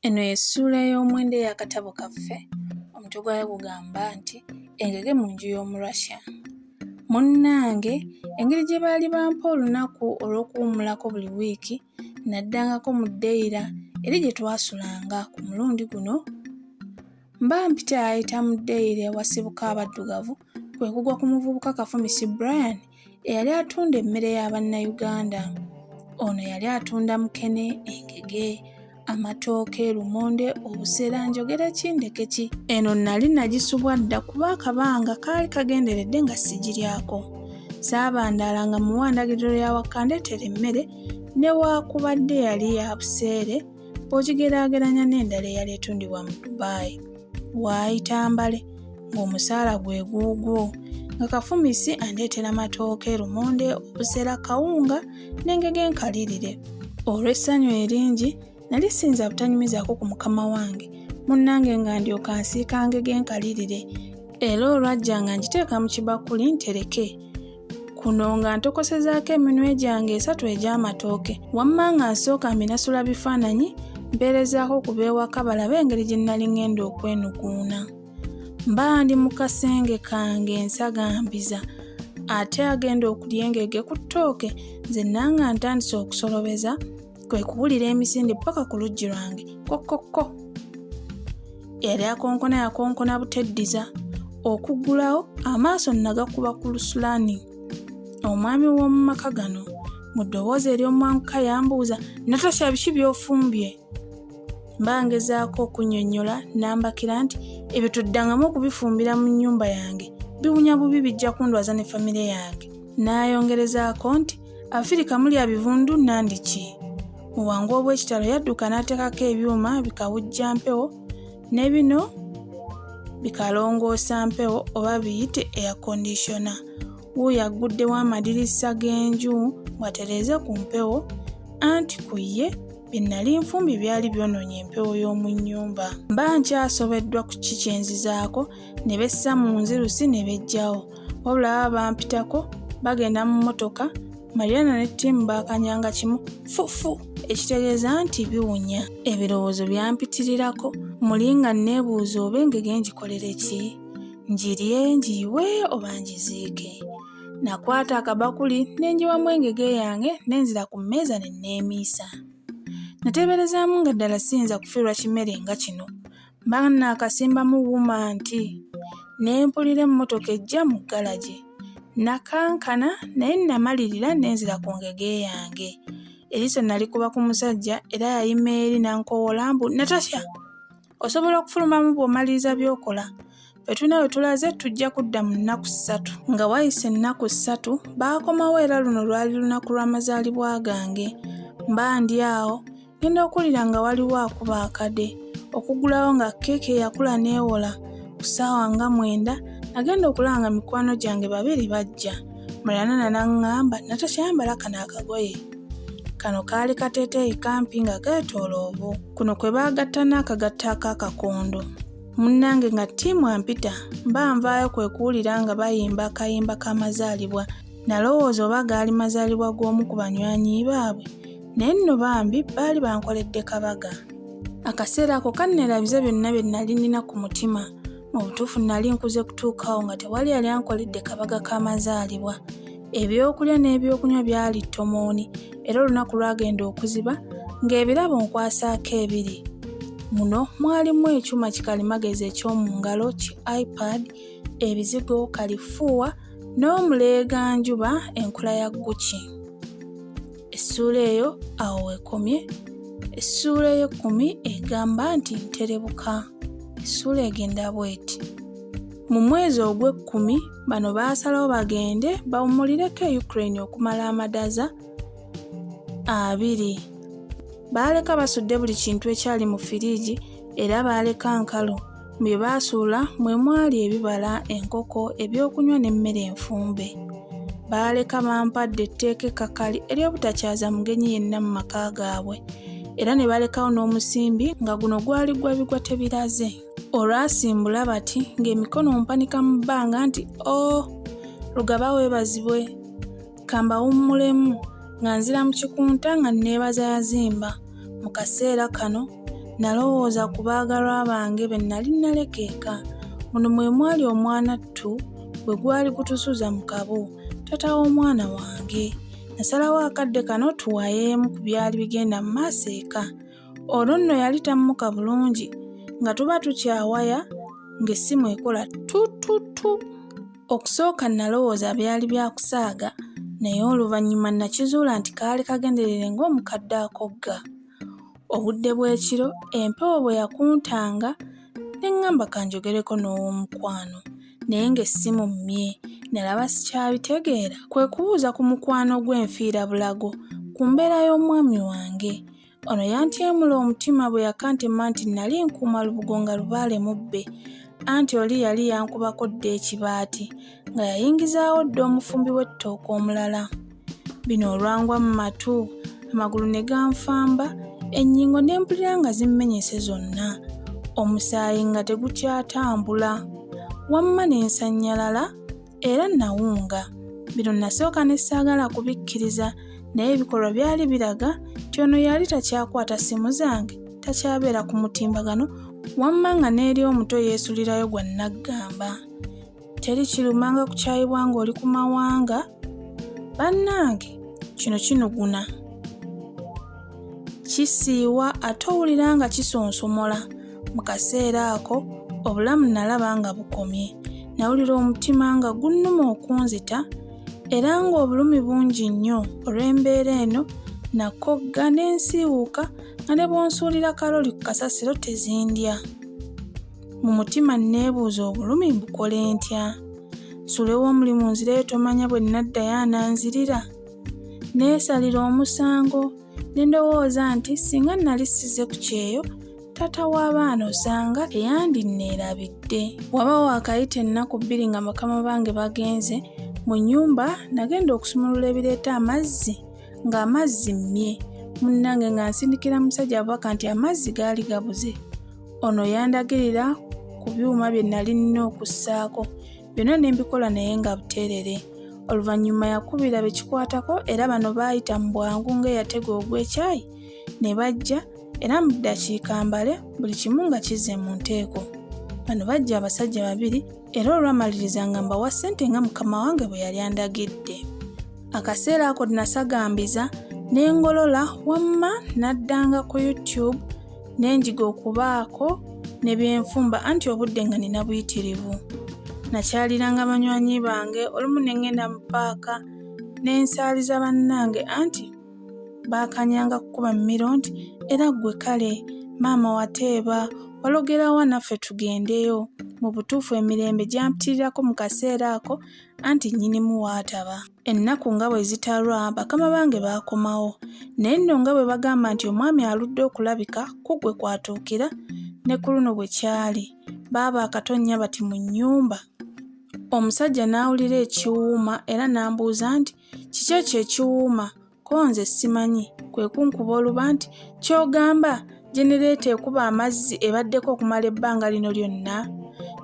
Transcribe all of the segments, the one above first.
Eno y'essuula ey'omwenda ey'akatabo kaffe, omutwe gwayo gugamba nti Engege mu nju y'Omurussia. Munnange, engeri gye baali bampa olunaku olw'okuwummulako buli wiiki, nnaddangako mu dayira eri gye twasulanga ku mulundi guno, Bambi teyayita mu ddeyiro ewasibuka abaddugavu kwe kugwa ku muvubuka Kafumisi Brian eyali atunda emmere ya Bannayuganda. Ono yali atunda mukene, engege, amatooke, lumonde, obuseera njogera ki ndeke ki. Eno nnali nagisubwa dda kuba akabanga kaali kagenderedde nga sigiryako. Saabandaala nga muwa ndagiriro ya wakandeetera emmere newaakubadde yali ya buseere. bw'ogigeraageranya n'endala eyali etundibwa mu Dubai waayita mbale ng'omusaala gwe guugwo nga kafumisi andeetera matooke lumonde obusera kawunga n'engege enkalirire olw'essanyu eringi nali siyinza butanyumizaako ku mukama wange munnange nga ndyoka nsiika ngege enkalirire era olwajja nga ngiteeka mu kibakuli ntereke kuno nga ntokosezaako eminwe gyange esatu egy'amatooke wamma nga nsooka mbinasula bifaananyi mpeerezaako ku beewaka balabe engeri gye nnali ng'enda okwenukuuna mba ndi mu kasenge kange nsagambiza ate agenda okulya engege ku ttooke nze nanga ntandise okusolobeza kwe kuwulira emisinde paka ku luggi lwange kokokko eyali akonkona yakonkona buteddiza okuggulawo amaaso nagakuba ku lusulani omwami w'omu maka gano mu ddoboozi ery'omwanguka yambuuza natasha biki by'ofumbye mba ngezaako okunnyonnyola nambakira nti ebyo tuddangamu okubifumbira mu nnyumba yange biwunya bubi bijja kundwaza ne famire yange n'ayongerezaako nti Afirika mulya bivundu nandiki mu bwangu obw'ekitalo yadduka n'ateekako ebyuma bikawujja mpewo ne bino bikalongoosa mpewo oba biyite air kondisona wuuyo agguddewo amadirisa g'enju ng'atereeze ku mpewo anti ku ye bye nnali nfumbi byali byonoonye empewo y'omu nnyumba mba nkyasobeddwa ku ki kyenzizaako ne bessa mu nzirusi ne bejjawo wabula baba bampitako bagenda mu mmotoka mariana ne ttiimu baakanyanga kimu fufu ekitegeeza nti biwunya ebirowoozo byampitirirako muli nga nneebuuza oba engege ngikolere ki ngirye ngiyiwe oba ngiziike nakwata akabakuli ne ngiwamu engege yange ne nzira ku mmeeza ne nneemiisa nateeberezaamu nga ddala siyinza kufiirwa kimere nga kino Mba nnaakasimbamu wuma nti ne mpulira emmotoka ejja mu galagi. Nnakankana naye nnamalirira ne nzira ku ngege yange. Eriiso nnalikuba ku musajja era yayima eri n'ankowoola mbu, Natasha, osobola okufulumamu bw'omaliriza by'okola. bwe tulina bwe tulaze tujja kudda mu nnaku ssatu nga wayise ennaku ssatu baakomawo era luno lwali lunaku lw'amazaalibwa gange mba ndi awo ngenda okuwulira nga waliwo akuba akade okugulawo nga keeke yakula n'ewola ku ssaawa nga mwenda nagenda okulanga mikwano gyange babiri bajja mulana nanaŋŋamba natasha yambala kano akagoye kano kaali kateeteeyi kampi nga keetooloovu kuno kwe baagatta n'akagatto ak'akakondo munnange nga ttiimu ampita mba nvaayo kwe kuwulira nga bayimba akayimba k'amazaalibwa nalowooza oba gaali mazaalibwa g'omu ku banywanyi baabwe naye nno bambi baali bankoledde kabaga akaseera ako kannerabiza byonna bye nnali nnina ku mutima mu butuufu nnali nkuze kutuukaawo nga tewali yali ankoledde kabaga k'amazaalibwa Ebyokulya n'ebyokunywa byali ttomooni era olunaku lwagenda okuziba ng'ebirabo nkwasaako ebiri. Muno mwalimu ekyuma kikalimagezi eky'omu ngalo ki iPad, ebizigo, kalifuuwa n'omuleeganjuba enkola ya Gucci. essuula eyo awo wekomye essuula ey'ekkumi egamba nti nterebuka essuula egenda bweti mu mwezi ogw'ekkumi bano baasalawo bagende bawumulireko e ukraine okumala amadaza abiri baaleka basudde buli kintu ekyali mu firiigi era baaleka nkalu Bye baasuula mwe mwali ebibala, enkoko, ebyokunywa n'emmere enfumbe. Baaleka bampadde etteeka ekkakali ery'obutakyaza mugenyi yenna mu maka gaabwe era ne balekawo n'omusimbi nga guno gwali gwa bigwa tebiraze. Olwasimbula bati ng'emikono mpanika mu bbanga nti, Oh! Lugaba weebazibwe! kambawummulemu nga nzira mu kikunta nga nneebaza yazimba mu kaseera kano nalowooza ku baagalwa bange be nnali nnaleka eka muno mwe mwali omwana ttu bwe gwali gutusuza mu kabo tata w'omwana wange nasalawo akadde kano tuwayeemu ku byali bigenda mu maaso eka olwo nno yali tammuka bulungi nga tuba tukyawaya ng'essimu ekola tututu Okusooka nnalowooza byali bya kusaaga naye oluvannyuma nnakizuula nti kaali kagenderere ng'omukadde akogga. Obudde bw'ekiro empewo bwe yakuntanga ne ŋŋamba ka njogereko n'ow'omukwano naye ng'essimu mmye nalaba sikyabitegeera kwe kubuuza ku mukwano gwe nfiirabulago ku mbeera y'omwami wange. Ono yantyemula omutima bwe yakantema nti nnali nkuuma lubugo nga lubaale mubbe anti oli yali yankubako dda ekibaati nga yayingizaawo dda omufumbi w'ettooka omulala. Bino olwangwa mu matu, amagulu ne ganfamba, ennyingo ne mpulira nga zimmenyese zonna, omusaayi nga tegukyatambula. Wamma ne nsannyalala era nawunga bino nasooka ne saagala kubikkiriza naye ebikolwa byali biraga nti ono yali takyakwata ssimu zange takyabeera ku mutimbagano wamma nga n'eri omuto yeesulirayo gwa nnaggamba teri kirumanga kukyayibwa ng'oli ku mawanga bannange kino kinuguna kisiiwa ate owulira nga kisonsomola Mu kaseera ako obulamu nalaba nga bukomye. Nawulira omutima nga gunnuma okunzita era ng'obulumi bungi nnyo olw'embeera eno nakogga ne nsiiwuuka nga ne bw'onsuulira kaloli ku kasasiro tezindya. Mu mutima nneebuuza obulumi mbukole ntya? Nsulewo omulimu nzireyo tomanya bwe naddayo ananzirira? Neesalira omusango ne ndowooza nti singa nali sizze ku kyeyo taata w'abaana osanga teyandinneerabidde waba waakayita ennaku bbiri nga bakama bange bagenze mu nnyumba nagenda okusumulula ebireeta amazzi ng'amazzi mmye munnange nga nsindikira musajja abubaka nti amazzi gaali gabuze ono yandagirira ku byuma bye nali nnina okussaako byonna ne mbikola naye nga buteerere oluvannyuma yakubira be kikwatako era bano baayita mu bwangu ng'eyatega ogw'ekyayi ne bajja era mu ddakiika mbale buli kimu nga kizze mu nteeko. Bano bajja abasajja babiri era olwamaliriza nga mbawa ssente nga mukama wange bwe yali andagidde. Akaseera ako nasagambiza ne ngolola wamma naddanga ku YouTube ne njiga okubaako ne byenfumba anti obudde nga nina buyitirivu. Nakyaliranga banywanyi bange olumu ne ngenda mu paaka ne nsaaliza bannange anti baakanyanga kukuba mmiro nti era ggwe kale maama wateeba walogerawa naffe tugendeyo mu butuufu emirembe gyampitirirako mu kaseera ako anti nnyinimu waataba ennaku nga bwe zitalwa bakama bange baakomawo naye nno nga bwe bagamba nti omwami aludde okulabika ku ggwe kwatuukira ne ku luno bwe kyali baaba akatonnya bati mu nnyumba omusajja n'awulira ekiwuuma era n'ambuuza nti Kiki ekyo ekiwuuma? Ko nze simanyi, kwe kunkuba oluba nti, Ky'ogamba jenereeta ekuba amazzi ebaddeko okumala ebbanga lino lyonna?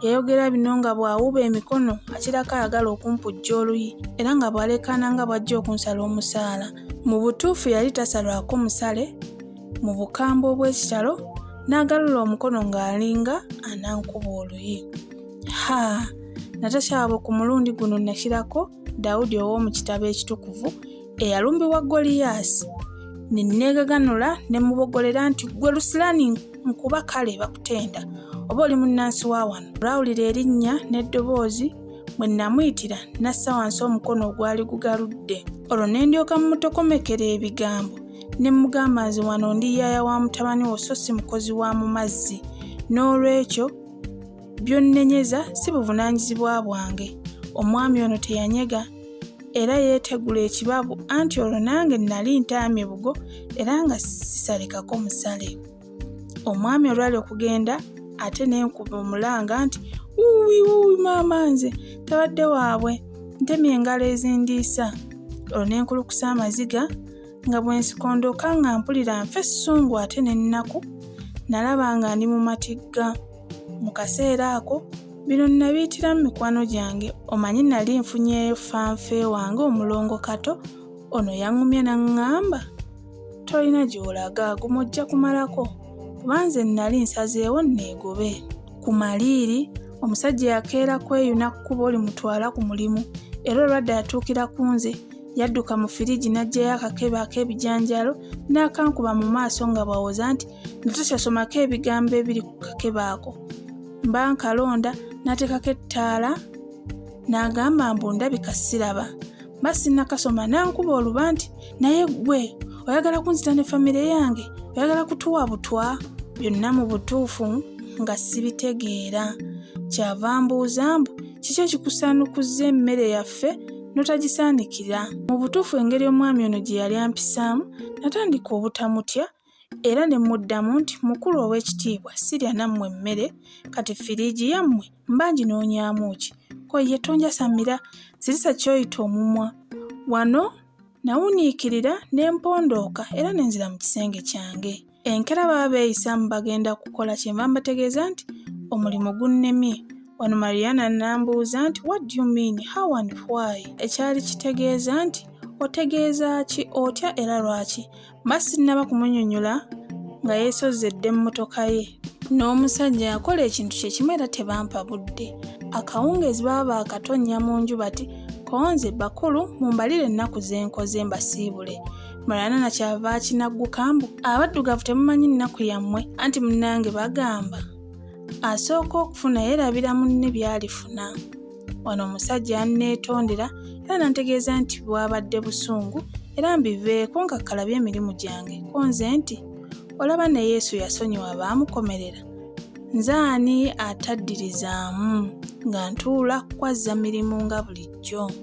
Yayogera bino nga bw'awuuba emikono akirako ayagala okumpujja oluyi era nga bw'aleekaana nga bw'ajja okunsala omusaala. Mu butuufu yali tasalwako musale, mu bukambwe obw'ekitalo n'agalula omukono ng'alinga anankuba oluyi. Ha! Natasha waabwe ku mulundi guno nakirako Dawudi ow'omu kitabo ekitukuvu eyalumbibwa Goliyaasi, ne nneegaganula ne mubogolera nti ggwe Lusilaani nkuba kale bakutenda oba oli munnansi wa wano. Olwawulira erinnya n'eddoboozi bwe nnamuyitira n'assa wansi omukono ogwali gugaludde. Olwo ne ndyoka mmutokomekera ebigambo ne mmugamba nze wano ndi yaaya wa mutabani wo so si mukozi wa mu mazzi. N'olwekyo By'onnenyeza si buvunaanyizibwa bwange. Omwami ono teyanyega era yeetegula ekibabu anti olwo nange nnali ntaamye bugo era nga sisalekako musale. Omwami olwali okugenda ate ne nkuba omulanga nti wuuwi wuuwi maama nze tabadde waabwe ntemye engalo ezindiisa olwo ne nkulukusa amaziga nga bwe nsikondoka nga mpulira nfa essungu ate n'ennaku nalaba nga ndi mu matigga. Mu kaseera ako bino nnabiyitira mu mikwano gyange omanyi nali nfunyeeyo fanfe wange omulongo kato ono yaŋŋumya naŋŋamba tolina gy'olaga gumu ojja kumalako kuba nze nnali nsazeewo nneegobe ku maliiri omusajja yakeera kweyuna kkubo limutwala ku mulimu era olwadde atuukira ku nze yadduka mu firigi n'aggyayo akakebe ak'ebijanjaalo n'akankuba mu maaso nga bw'awoza nti nga tokyasomako ebigambo ebiri ku kakebe ako mba nkalonda n'ateekako ettaala n'agamba mbu ndabika siraba mba sinnakasoma n'ankuba oluba nti naye ggwe oyagala kunzita ne famire yange oyagala kutuwa butwa byonna mu butuufu nga sibitegeera kyava mbuuza mbu kiki ekikusaanukuzza emmere yaffe n'otagisaanikira mu butuufu engeri omwami ono gye yali ampisaamu natandika obutamutya Era ne mmuddamu nti, Mukulu ow'ekitiibwa, sirya nammwe mmere, kati firiigi yammwe mba nginoonyaamu ki? Ko ye, Tonjasamira, zirisa ky'oyita omumwa. Wano nawuniikirira ne mpondooka era ne nzira mu kisenge kyange. Enkeera baba beeyisaamu bagenda kukola kye nva mbategeeza nti, Omulimu gunnemye. Wano Mariana n'ambuuza nti, What do you mean? How and why? Ekyali kitegeeza nti, Otegeeza ki, otya era lwaki? Mba sinnaba kumunyonyola nga yeesozze dda emmotoka ye. N'omusajja yakola ekintu kye kimu era tebampa budde. Akawungeezi baba baakatonnya mu nju bati konze bakulu mumbalire ennaku ze nkoze mbasiibule. Mulana na kyava akinagguka mbu abaddugavu temumanyi nnaku yammwe anti munnange bagamba asooka okufuna yeerabira munne by'alifuna. wano omusajja yanneetondera era nantegeeza nti bwabadde busungu era mbiveeko nga kalabye emirimu gyange ko nze nti olaba ne yesu yasonyiwa baamukomerera nze ani ataddirizaamu nga ntuula kukwazza mirimu nga bulijjo